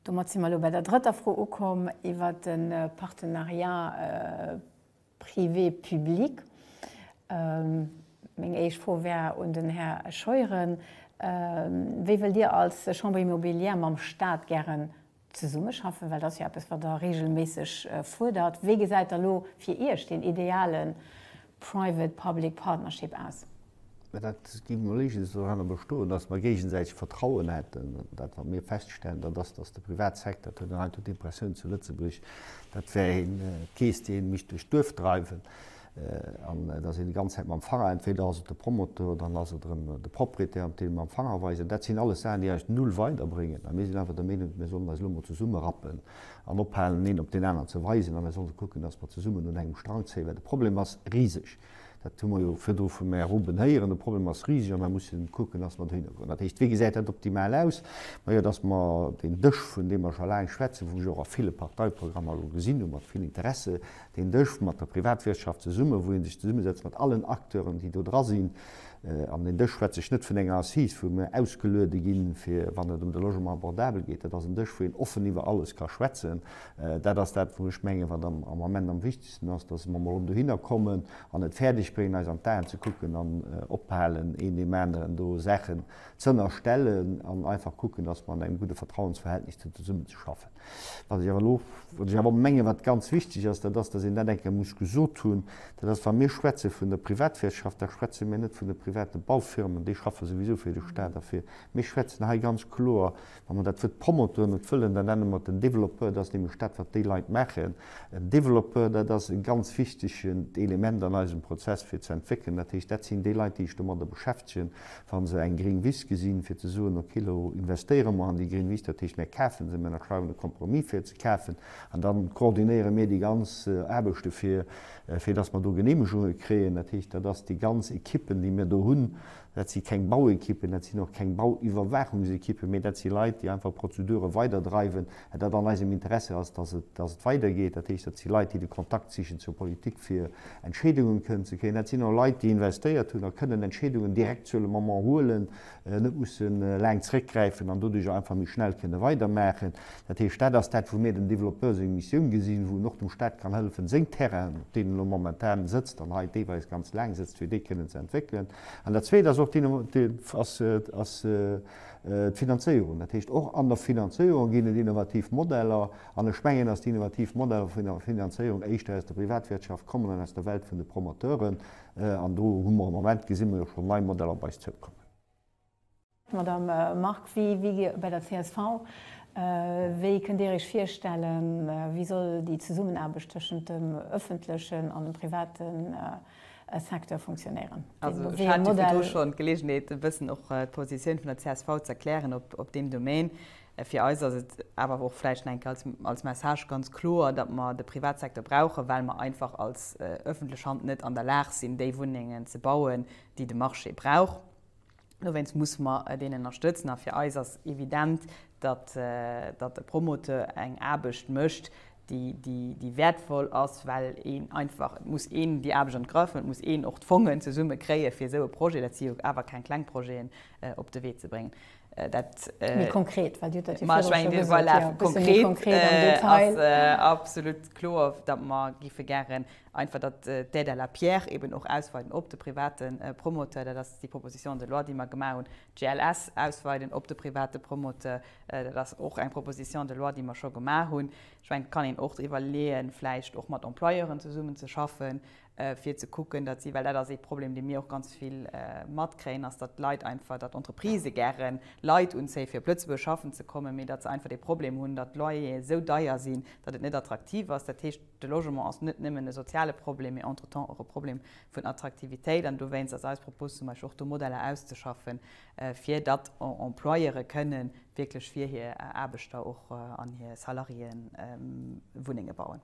Domat si mer elo bei der drëtter Fro ukomm iwwert de Partenariat privé-public. Meng éischt Fro wär un den Här Scheuren, Wéi wëllt Dir als Chambre immobilière mam Stat gären Zesummeschaffen, well dat ass jo eppes, wat Der reegelméisseg fuerdert. Wéi gesäit da lo fir Iech deen ideale Private Public Partnership aus? Mä dat gi mer léigens doranner bestoen, datt mer géigesäiteg Vertrauen hätten. Dat, wat mir feststellen, dat ass, datt de Privatsecteur, dat huet een heiansdo d'Impressioun zu Lëtzebuerg, dat wär ee Kees, dee mécht duerch d'Duerf dreiwen. An et ass een déi ganz Zäit mam Fanger, entweder ass et de Promoteur oder dann ass et erëm de Propriétaire, dee mam Fanger weist. An dat sinn alles Saachen, déi eis null weiderbréngen. A mir sinn einfach der Meenung, mir sollen eis elo mol zesummerappen an ophalen, een op deen aneren ze weisen, a mir sollte kucken, dass mer zesummen un engem Strang zéien, well de Problem ass riseg. Dat hu mer jo virdru vum Här Ruben héieren. De Problem ass riseg a mer musse kucken, dass mer dohinner goen. Dat heescht, wéi gesäit dat optimal aus? Majo, dass mer deen Dësch, vun deem mer scho laang schwätzen, wou ech och a ville Parteiprogrammer elo gesinn hu mat vill Interesse, Deen Dësch mat der Privatwirtschaft zesummen, wou ee sech zesummesetzt mat allen Acteuren, déi do dra sinn. An deen Dësch schwätze ech net vun enger Assise, wou mir ausgeluede ginn, fir wann et ëm de Logement abordable geet. Dat ass en Dësch, wou een offen iwwer alles ka schwätzen. Dat ass dat, wou ech mengen, wat am Ament am wichtegsten ass, dass mer emol dohinner kommen an et fäerdeg bréngen, eis an d'Aen ze kucken an ophalen, een deem aneren do Saachen z'ënnerstellen an einfach kucken, dass mer an engem gudde Vertrauensverhältnis zesummenzeschaffen. Wat ech awer elo, wat ech awer menge wat ganz wichteg ass, dat ass, dass een dat eng Kéier muss gesot hunn, dat ass, wa mir schwätze vun der Privatwirtschaft, da schwätze mir net vun de private Baufirmen, déi schaffe souwisou fir de Stat a fir. Mir schwätzen hei ganz kloer, wa mer dat Wuert Promoteur net wëllen, da nenne mer et en Développeur, dat ass nämlech dat wat déi Leit maachen. En Développeur, dat ass e ganz wichtegent Element an eisem Prozess fir ze entwéckelen. Dat heescht, dat sinn déi Leit, déi sech domadder beschäftegen, wa se eng gring Wiss gesinn, fir ze soen, ok, elo investéiere mer an déi gring Wiss, dat heescht, mir kafe se, mir ënnerschreiwen e Compromis fir ze kafen an da koordinéiere mir déi ganz Aarbechte fir, fir dass mer do Geneemegunge kréien. Dat heescht, dat ass déi ganz Ekippen, déi mir do hunn. Dat si keng Bauekippen, dat sinn och keng Bauiwwerwaachungsekippen, mee dat si Leit, déi einfach Prozedure weiderdreiwen, dat an eisem Interesse ass, dass et, dass et weidergeet, dat heescht, dat si Leit, déi de Kontakt sichen zur Politik, fir Entscheedungen kënnen ze kréien. Dat sinn och Leit, déi investéiert hunn a kënnen Entscheedungen direct sur le moment huelen, net mussen laang zréckgräifen an doduerch och einfach méi schnell kënnen weidermaachen. Dat heescht, dat ass dat, wou mir dem Développeur seng Missioun gesinn, wou en och dem Stat kann hëllefen, seng Terrainen, op deenen e lo momentan sëtzt an hei deelweis ganz laang sëtzt, fir déi kënnen ze entwéckelen. An dat Zweet ass och, ass, ass, D'Finanzéierung, dat heescht och an der Finanzéierung ginn et innovativ Modeller. An ech mengen, datt déi innovativ Modeller vun der Finanzéierung éischter aus der Privatwirtschaft kommen an aus der Welt vun de Promoteuren. An do hu mer am Moment, gesi mer jo schonn, nei Modeller op eis zoukommen. Madame Margue, wéi wier Dir bei der csv? Wéi kënnt Dir Iech virstellen, wéi soll déi Zesummenaarbecht tëschent dem öffentlechen an dem privaten Secteur funktionéieren. Also ech hat jo virdu schonn d'Geleegenheet e bëssen och d'Positioun vun der csv ze erklären op deem Domaine. Fir eis ass et awer och vläicht nach eng Kéier als Message ganz kloer, datt mer de Privatsecteur brauchen, well mer einfach als öffentlech Hand net an der Lag sinn, déi Wunnengen ze bauen, déi de Marché brauch. Dowéinst musse mer deen ënnerstëtzen. A fir eis ass evident, datt e Promoteur eng Aarbecht mécht, déi wäertvoll ass, well een einfach, et muss een déi Aarbecht an d'Grëff hunn, et muss een och d'Fongen zesumme kréien, fir esou e Projet, dat si jo awer keng kleng Projeten, op de Wee ze bréngen. Dat. Méi konkret, well Dir hutt dat jo virdru scho gesot. Voilà, méi konkret an Detail. Ass absolut kloer, datt mer gäre Einfach, datt d'Aide à la pierre eben och ausweiden op de private Promoteur, dat ass déi Proposition de loi, déi mer gemaach hunn. D'GLS ausweiden op de private Promoteur, dat ass och eng Proposition de loi, déi mer scho gemaach hunn. Ech mengen, et kann een och driwwer leeën, vläicht och mat Employeuren zesummen ze schaffen, fir ze kucken, datt si, well dat ass ee Problem, dee mir och ganz vill matkréien, ass, datt d'Leit einfach, datt d'Entreprisë gären Leit unzéie fir op Lëtzebuerg schaffen ze kommen, mee datt se einfach dee Problem hunn, datt d'Loyere sou deier sinn, datt et net attraktiv ass. Dat heescht. De Logement ass net nëmmen e soziale Problem, mee entretemps och e Problem vun Attraktivitéit. An dowéinst ass eis Propos zum Beispill och do Modeller auszeschaffen, fir datt Employeuren kënne wierklech fir hir Aarbechter och an hir Salariéen Wunnenge bauen.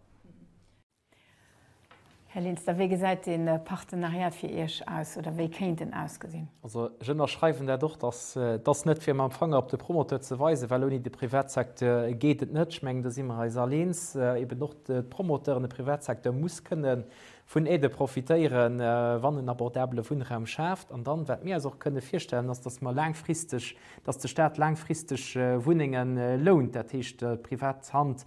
Här Linster, wéi gesäit dee Partenariat fir Iech aus oder wéi kéint en ausgesinn? Also ech ënnerschreiwen dat och, datt Et ass net, fir mam Fanger op de Promoteur ze weisen, well ouni de Privatsecteur geet et net. Ech mengen, do si mer eis all eens. Eeben och de Promoteur an de Privatsecteur muss kënne vun Aidë profitéieren, wann en abordabele Wunnraum schaaft. An dann, wat mir eis och kënne virstellen, ass, dass mer laangfristeg, dass de Stat laangfristeg Wunnenge lount, dat heescht, d'privat Hand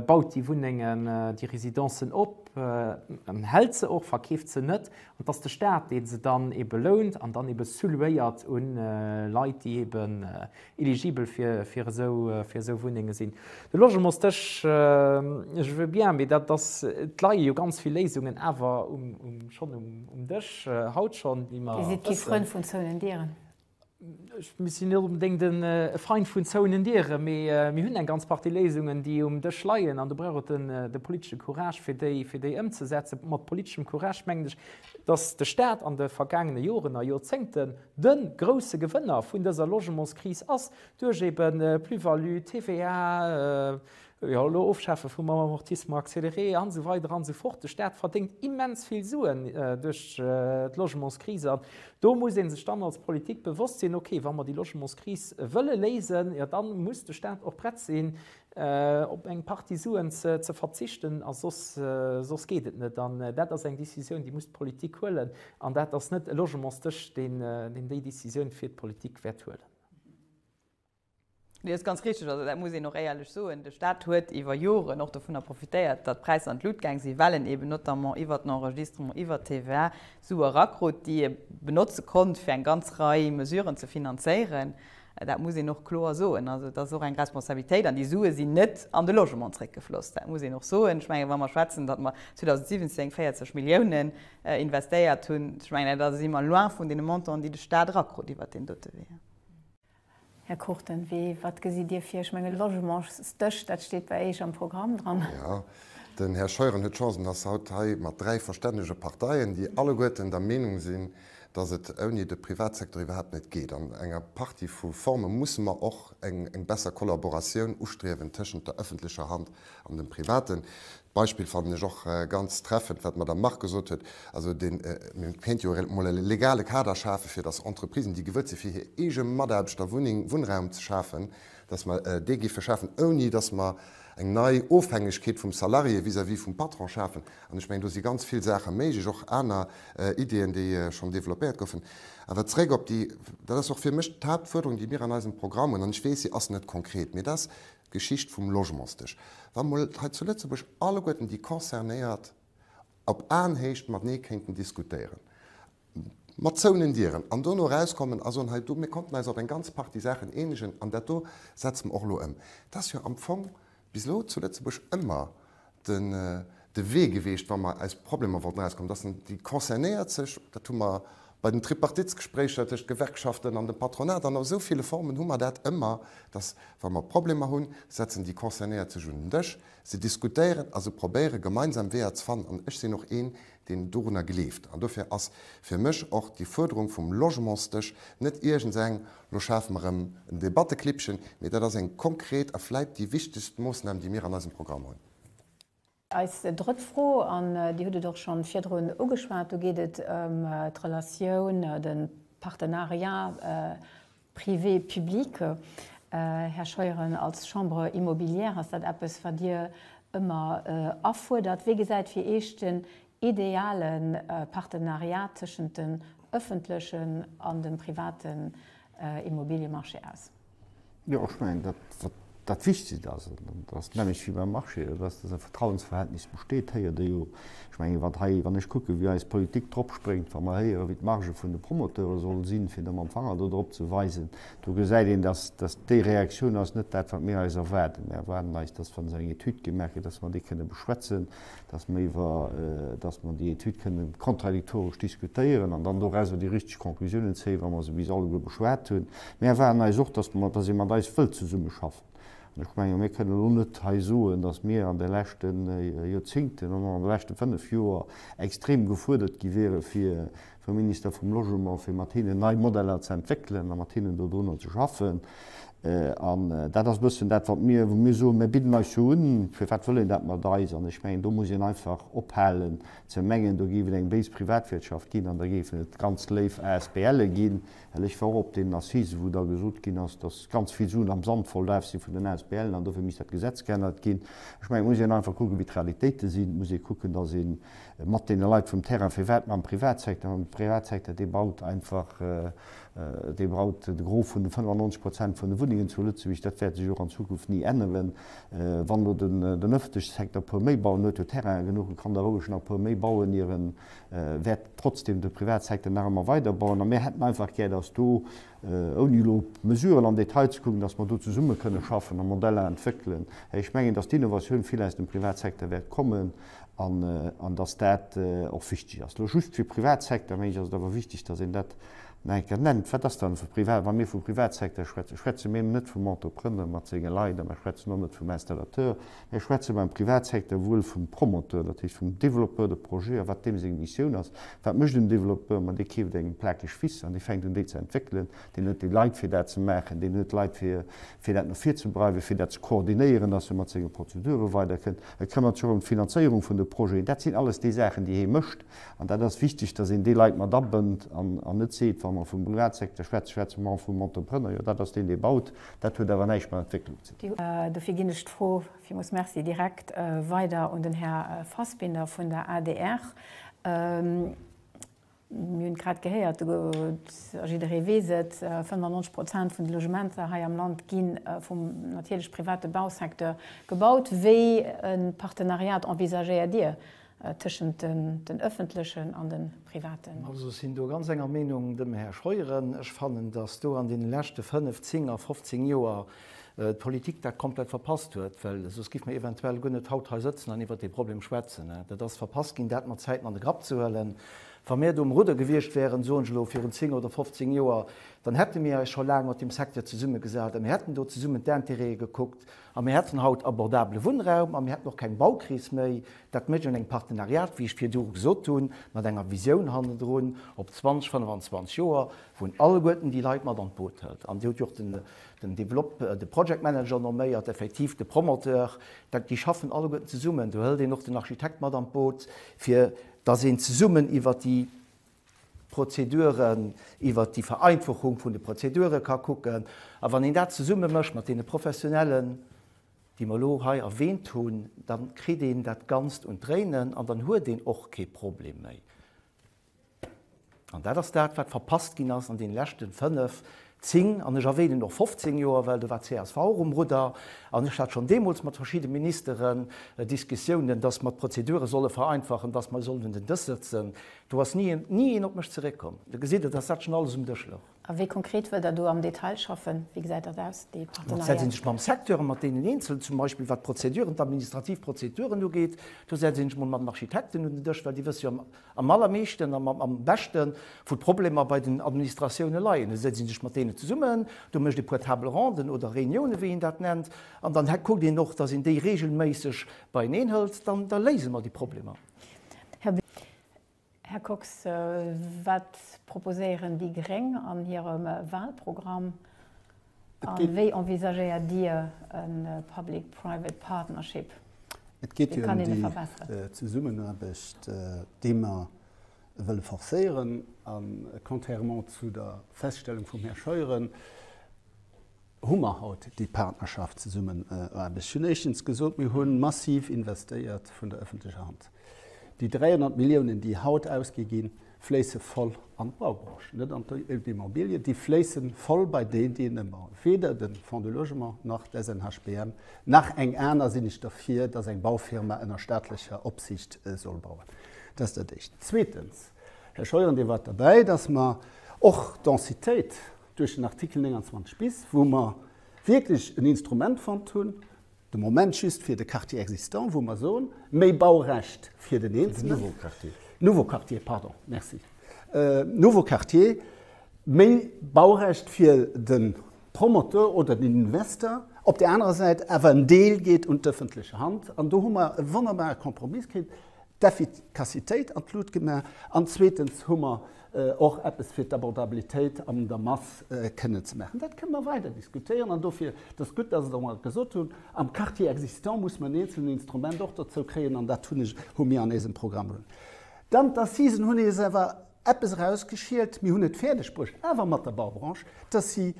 baut déi Wunnengen, déi Residencen op, hält se och, verkeeft se net, an et ass de Staat, dee se dann ebe lount an dann ebe sous-louéiert u Leit, déi ebe eligibel fir esou Wunnenge sinn. De Logementsdësch, je veux bien, mee dat ass, et leie jo ganz vill Léisungen awer schonn um Dësch haut schonn, déi mer wëssen. Dir sidd kee Frënd vum zouenen Dieren. Mir sinn net onbedéngt e Feind vun zouenen Dieren, mee mir hunn eng ganz Partie Léisungen, déi um Dësch leien, an do brauch et de politesche Courage, fir déi ëmzesetzen. Mat politeschem Courage mengen ech, dass de Stat an de vergaangene Joren a Jorzéngten de grouse Gewënner vun dëser Logementskris ass, duerch ebe Plus-value, TVA, Jo, elo ofschafe vum Amortissement accéléré an esou weider an esou fort. De Staat verdéngt immens vill Suen duerch d'Logementskris. An do muss ee sech dann als Politik bewosst sinn, okay, wa mer déi Logementskris wëlle léisen, jo da muss de Staat och prett sinn, op eng Partie Suen ze verzichten. A soss, soss geet et net. An dat ass eng Décisioun, déi muss d'Politik huelen. An dat ass net e Logementsdësch, deen déi Décisioun fir d'Politik wäert huelen. Nee, dat ass ganz richtig. Also dat muss een och éierlech soen. De Stat huet iwwer Joren och dovunner profitéiert, datt d'Präisser an d'Lut gaang sinn, well en eben notamment iwwer den Enregistrement, iwwer d'TVA Sue erakrut, déi e benotze konnt, fir eng ganz Rei Mesuren ze finanzéieren. Dat muss een och kloer soen. Also et ass och eng Responsabilitéit. An déi Sue sinn net an de Logement zréckgefloss. Dat muss een och soen. Ech mengen, wa mer schwätzen, datt mer 2017 40 Milliounen investéiert hunn, ech mengen, da si mer loin vun deene Montanten, déi de Stat erakrut iwwer deen dote Wee. Här Cruchten, wéi, wat gesitt Dir vir? Ech mengen, Logementsdësch, dat steet bei Eech am Programm dran. Jo, den Här Scheuren huet d'Chance, en ass haut hei mat dräi verstännege Parteien, déi alleguerten der Meenung sinn, dass et ouni de Privatsecteur iwwerhaapt net geet. An enger Partie vu Forme musse mer och eng besser Kollaboratioun ustriewen tëschent der ëffentlecher Hand an dem Privaten. Beispill fannen ech och ganz treffend, wat d'Madame Margue gesot huet, also deen, mir kéinte jo emol e legale Kader schafen, fir datt Entreprisen, déi gewëllt sinn, fir hir eege Mataarbechter Wunneng, Wunnraum ze schafen, datt mer dee géife schafen, ouni datt mer eng nei Ofhängegkeet vum Salarié vis-à-vis vum Patron schafen. An ech mengen, do si ganz vill Saache méiglech, och aner Ideeën, déi schonn developpéiert goufen. Awer zréck op déi, dat ass och fir mech d'Haaptfuerderung, déi mir an eisem Programm hunn, an ech weess, si ass net konkret, mee dat ass, Geschicht vum Logementsdësch, wa mol hei zu Lëtzebuerg alleguerten déi Concernéiert op Aenhéicht matenee kéinten diskutéieren, mat zouenen Dieren, an dono erauskommen a soen, hei do, mir konnten eis op eng ganz Partie Saachen eenegen an dat do setze mer och elo ëm. Dat ass jo am Fong bis elo zu Lëtzebuerg ëmmer de Wee geweecht, wa mer aus Problemer wollten erauskommen, dass en déi Concernéiert sech, dat hu mer bei den Tripartitsgespréicher tëscht Gewerkschaften an dem Patronat an esou ville Formen hu mer dat ëmmer, dass, wa mer Problemer hunn, setzen déi Concernéiert sech un den Dësch, se diskutéieren a se probéiere gemeinsam Weeër ze fannen. An ech sinn och een, deen dorunner gleeft. An dofir ass fir mech och déi Fuerderung vum Logementsdësch net iergends eng, lo schafe mer erëm en Debatteklippchen, mee dat ass eng konkret a vläit déi wichtegst Moossnam, déi mir an eisem Programm hunn. Eis drëtt Fro, an Dir hutt et och scho virdrun ugeschwat, do geet et ëm d'Relatioun, de Partenariat, Privé-publique. Här Scheuren, als Chambre immobilière ass dat eppes, wat Dir ëmmer afuerdert. Wéi gesäit fir Iech den ideale Partenariat tëschent dem ëffentlechen an dem privaten Immobiliemarché aus? Jo, ech mengen, dat, wat Dat Wichtegst ass, an dat ass d'Männecht wéi beim Marché, dat ass, datt e Vertrauensverhältnis besteet, héiert ee jo. Ech mengen, wat hei, wann ech kucken, wéi eis Politik drop spréngt, wa mer héieren, wéi d'Margë vun de Promoteure sollen sinn, fir da mam Fanger do drop ze weisen, do gesäit een, datt datt déi Reaktioun ass net dat, wat mir eis erwaarden. Mir erwaarden eis, datt, wa se eng Etüd gemaach gëtt, datt mer déi kënne beschwätzen, dass mer iwwer, dass mer déi Etüd kënne kontradiktoresch diskutéieren an dann dorausser déi richteg Conclusiounen zéien, wa mer se bis alleguer beschwat hunn. Mir erwaarden eis och, dass mer, dass ee mat eis wëllt zesummeschaffen. An ech menge mir kënnen elo net hei soen, dass mir an de leschte Joerzingten an an de leschte fënnf Joer extrem gefuerdert gi wiere fir vum Minister vum Logement, fir mat hinnen nei Modeller ze entwéckelen a mat hinnen dodrunner ze schaffen. An dat ass e bëssen dat, wat mir, wou mir soen, mir bidden eis jo un, firwat wëll een dat mat eis? An ech mengen, do muss een einfach ophalen ze mengen, do géif et eng béis Privatwirtschaft ginn an da géifen et ganz léif ASBLe ginn, well ech war och op deenen Assisen, wou da gesot ginn ass, datt ganz vill Suen am Sand verlaf si vun den ASBLen an dofir misst dat Gesetz geännert ginn. Ech mengen, et muss een einfach kucken, wéi d'Realitéite sinn. Et muss ee kucken, datt een mat deene Leit vum Terrain, firwat mam Privatsecteur, mam Privatsecteur, dee baut einfach, dee baut de Gros vun de 95 Prozent vun de Wunnengen zu Lëtzebuerg, dat wäert sech och an Zukunft ni änneren. Wann elo den ëffentleche Secteur e puer méi bauen huet, huet Terrainen genuch, e kann da roueg nach e puer méi bauen, ier e wäert trotzdem de Privatsecteur nach ëmmer weiderbauen. A mir hätten einfach gär, dass do Ouni elo op d'Mesuren am Detail ze kucken, datt mer do zesumme kënne schaffen a Modeller entwéckelen. Ech mengen, datt d'Innovatioun vill aus dem Privatsecteur wäert kommen an datt dat och wichteg ass. Elo just fir Privatsecteur, meng ech, ass et awer wichteg, datt een dat nach eng Kéier nennt. Wat ass dann e Privat, wa mir vu Privatsecteur schwätzen? Schwätze mir net vum Entrepreneur mat senge Leit a mir schwätzen och net vum Installateur, Hei schwätze mer am Privatsecteur wuel vum Promoteur, dat heescht vum Développeur de projet a wat deem seng Missioun ass. Wat mécht en Développeur? Ma dee keeft eng Plakeg Wiss an dee fänkt un déi ze entwéckelen. Deen huet déi Leit fir dat ze maachen, deen huet Leit fir fir dat no vir ze breiwen, fir dat ze koordinéieren, dass e mat senge Prozedure weider kënnt. E këmmert sech och ëm d'Finanzéierung vun de Projeten. Dat sinn alles déi Saachen déi hee mécht an dat ass wichteg, dass een déi Leit mat abënnt an an net seet, wa mer vum Privatsecteur schwätzen, schwätze mer och vum Entrepreneur, jo dat ass deen dee baut, dat huet awer näischt mat Entwécklung ze dinn. Dofir ginn ech d'Fro Villmools merci direkt weider un den Här Fassbinder vun der adr. Mir hunn et grad gehéiert, a jidderee weess et, 95 Prozent vun de Logementer hei am Land gi vum natierlech private Bausecteur gebaut. Wéi e Partenariat envisagéiert Dir Tëschent den öffentlechen an den privaten. Also sinn do ganz enger Meenung dem Här Scheuren. Ech fannen, dass do an deenen leschte fënnf, zéng a fofzéng Joer d'Politik dat komplett verpasst huet, well soss giff mer eventuell guer net haut hei sëtzen an iwwert dee Problem schwätzen. Dat ass verpasst ginn, dat mat Zäiten an de Grapp ze huelen. Wa mir do um Rudder gewiescht wäeren, soen ech elo, virun zéng oder fofzéng Joer, dann hätte mir eis scho laang mat deem Secteur zesummegesat a mir hätten do zesummen d'Intérêtë gekuckt A mir hätten haut abordabele Wunnraum a mir hätten och keng Baukris méi. Dat mécht een engem Partenariat, wéi ech virdu gesot hunn, mat enger Visioun hannendrun op 20, 25 Joer, wou en alleguerten déi Leit mat an d'Boot hëlt. An Dir hutt jo och den Develop-, de Project Manager nomméiert, effektiv de Promoteur. Dat, déi schaffen alleguerten zesummen. Do hëlt een och den Architekt mat an d'Boot, fir dass een zesummen iwwert déi Prozeduren, iwwert déi Vereinfachung vun de Prozedure ka kucken. A wann een dat zesumme mécht mat deene Professionellen, déi mer elo hei erwähnt hunn, da kritt een dat Ganzt un d'Dréinen an dann huet een och kee Problem méi. An dat ass dat, wat verpasst ginn ass an deene leschte fënnef, 10, an ech erwänen och 15 Joer, well do war csv och um Rudder, an ech hat schonn deemools mat verschidde Ministeren Diskussiounen, dass mer d'Prozedure solle vereinfachen, dass mer sollen un den Dësch sëtzen. Do ass ni een, ni een op mech zeréckkomm. Da gesitt Der, dass dat schonn alles um Dësch louch. A wéi konkret wëllt Der do am Detail schaffen? Wéi gesäit dat aus, déi Partenariat? Setz een sech mam Secteur an mat deenen Eenzelen, zum Beispill wat d'Prozeduren, d'administrativ Prozeduren ugeet. Do setz een sech mol mat den Architekten un den Dësch, well déi wësse jo am. Am allermeeschten a am beschte wou d'Problemer bei den Administratioune leien. Do setzt ee sech mat deene zesummen, do mécht ee puer Table ronden oder Reunioune wéi een dat nennt an dann kuckt een och, datt een déi reegelméisseg beieneen hëlt. Dann da léise mer déi Problemer. Här Kox, wat proposéieren déi gréng an hirem Walprogramm? A wéi envisagéiert Dir e Public Private Partnership? Wéi kann een e verbesseren? Et geet jo ëm déi Zesummenaarbecht, déi mer wëlle forcéieren. A contrairement zu der Feststellung vum Här Scheuren hu mer haut déi Partnerschaft, Zesummenaarbecht. Ech hunn éischtens gesot, mir hu massiv investéiert vun der öffentlecher Hand. Déi 300 Milliounen, déi haut ausgi ginn, fléisse voll an d'Baubranche, net an d'Immobilie, déi fléisse voll bei déi, déi en ëmmer, weder de Fonds de logement nach d'SNHBM nach eng aner, sinn ech derfir, datt eng Baufirma ënner staatlecher Opsiicht soll bauen. Dat ass dat Éischt. Zweetens, Här Scheuren, Dir waart derbäi, datt mer och d'Densitéit duerch den Artikel 29 bis, wou mer wierklech en Instrument fonnt hunn, De Moment just fir de Quartier existant, wou mer soen, méi Baurecht fir den Eenzelen. Nouveau Quartier. Nouveau Quartier, pardon, merci. Nouveau Quartier, méi Baurecht fir de Promoteur oder den Investor. Op där anerer Säit awer en Deel geet un d'ëffentlech Hand. An do hu mer e wonnerbare Kompromiss kritt, d'Effikassitéit an d'Lut gemaach an zweetens hu mer och eppes fir d'Abordabilitéit an der Mass kënne ze maachen. Dat kënne mer weider diskutéieren an dofir, et ass gutt, dass Der emol dat gesot hunn, am Quartier existant muss mer en eenzelen Instrument och dozou kréien an dat hunn ech, hu mir an eisem Programm un. Dann d'Assisen hunn eis awer eppes erausgeschielt, mir hunn et fäerdegbruecht, awer mat der Baubranche, dass si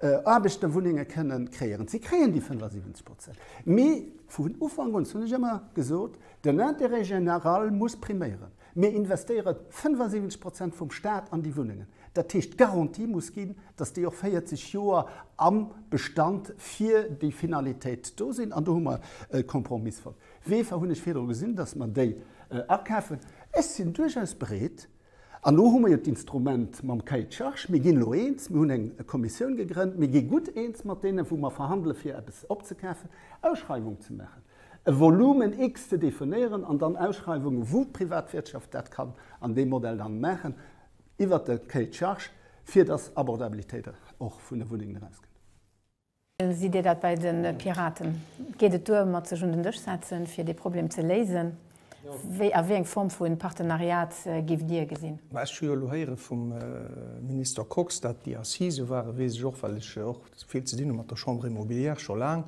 Aarbechterwunnenge kënnen kreéieren. Si kréien déi 75 Prozent, mee vun Ufank un hunn ech ëmmer gesot, den Intérêt général muss priméieren. Mir investéiere 75 Prozent vum Staat an déi Wunnengen. Dat heescht, d'Garantie muss ginn, datt déi och 40 Joer am Bestand fir déi Finalitéit do sinn. An do hu mer e Kompromiss fonnt. Weefer hunn ech virdru gesinn, datt mer déi akafen. Ech sinn duerchaus bereet, an do hu mer jo d'Instrument mam Cahier de charges, mir ginn elo eens, mir hunn eng Kommissioun gegrënnt, mir gi gutt eens mat deenen, wou mer verhandele fir eppes opzekafen, Ausschreiwung ze maachen. e Volumen X ze definéieren an dann Ausschreiwungen, wou d'Privatwirtschaft dat kann an deem Modell dann maachen, iwwert de Cahier de charges, fir dass Abordabilitéit och vun de Wunnengen erausgeet. Sidd Dir dat bei de Piraten? Geet et duer mat sech un den Dësch setzen, fir dee Problem ze léisen? Wéi a wéi eng Form vu Partenariat giff Dir gesinn? Ech hu jo elo héiere vum Minister Kox, dat déi Assisë ware, weess ech och, well ech och vill ze dinn hu mat der Chambre immobilière scho laang.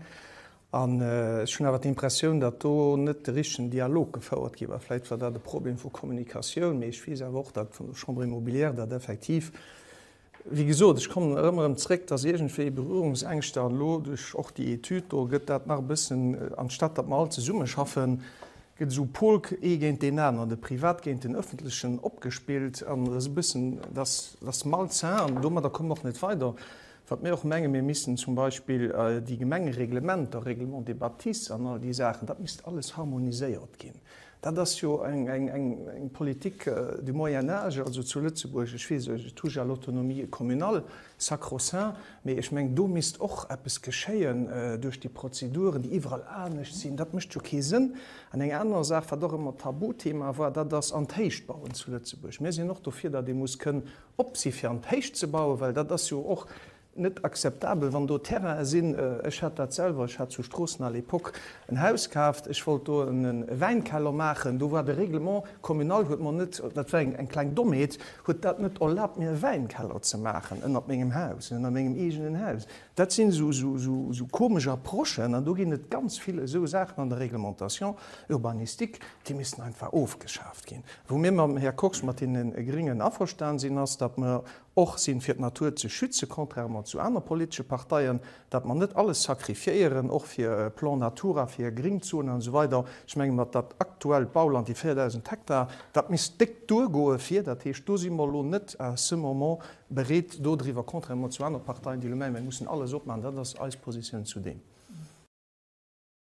An ech hunn awer d'Impressioun, datt do net de richtegen Dialog gefouert gi war. Vläicht war dat e Problem vu Kommunikatioun, mee ech weess awer och, datt vun der Chambre immobilière dat effektiv, wéi gesot, ech kommen erëm erëm zréck, datt iergendwéi Berührungsängschter, an elo duerch och déi Etüd do gëtt dat nach e bëssen, anstatt datt mer all zesummeschaffen, gëtt esou Pol ee géint deen aneren, de Privat géint den Öffentlechen opgespillt, an e bëssen, datt, datt malsain, an domadder kommen mer och net weider. Wat mir och mengen, mir missten zum Beispill déi Gemengereglementer, Règlement des bâtisses an all déi Saachen, dat misst alles harmoniséiert ginn. Dat ass jo eng Politik du Moyen âge, also zu Lëtzebuerg, ech weess, ech touche à l'autonomie communale, sacro-saint, mee ech mengen, do misst och eppes geschéien duerch déi Prozeduren, déi iwwerall anescht sinn. Dat mécht jo kee Sënn. An eng aner Saach, wat och ëmmer Tabuthema war, dat ass, an d'Héichbauen zu Lëtzebuerg. Mir sinn och dofir, datt ee muss kënnen op si fir an d'Héicht ze bauen, well dat ass jo och net akzeptabel, wann do Terrainen sinn. Ech hat dat selwer, ech hat zu Stroossen à l'époque en Haus kaaft, ech wollt do e Wäinkeller maachen, do war de Règlement communal huet mer net, dat war eng kleng Dommheet, huet dat net erlaabt mir e Wäinkeller ze maachen ënnert mengem Haus, ënnert mengem eegenen Haus. Dat sinn esou komesch Approchen an do ginn et ganz vill esou Saachen an der Réglementation urbanistique, Déi missten einfach ofgeschaaft ginn. Wou mir mam Här Kox, mat deene Gringen, averstan sinn, ass, datt mer och sinn, fir d'Natur ze schützen, contrairement zu aner politesche Parteien, datt mer net alles sacrifiéieren, och fir e Plan Natura, fir Gringzonen an esou weider. Ech menge mer, dat aktuellt Bauland, déi 4.000 Hektar, dat misst déck duergoe fir. Dat heescht, do si mer elo net à ce moment bereet dodriwwer, contrairement zu anere Parteien, déi elo mengen, mir mussen alles opmaachen. Dat ass eis Positioun zu deem.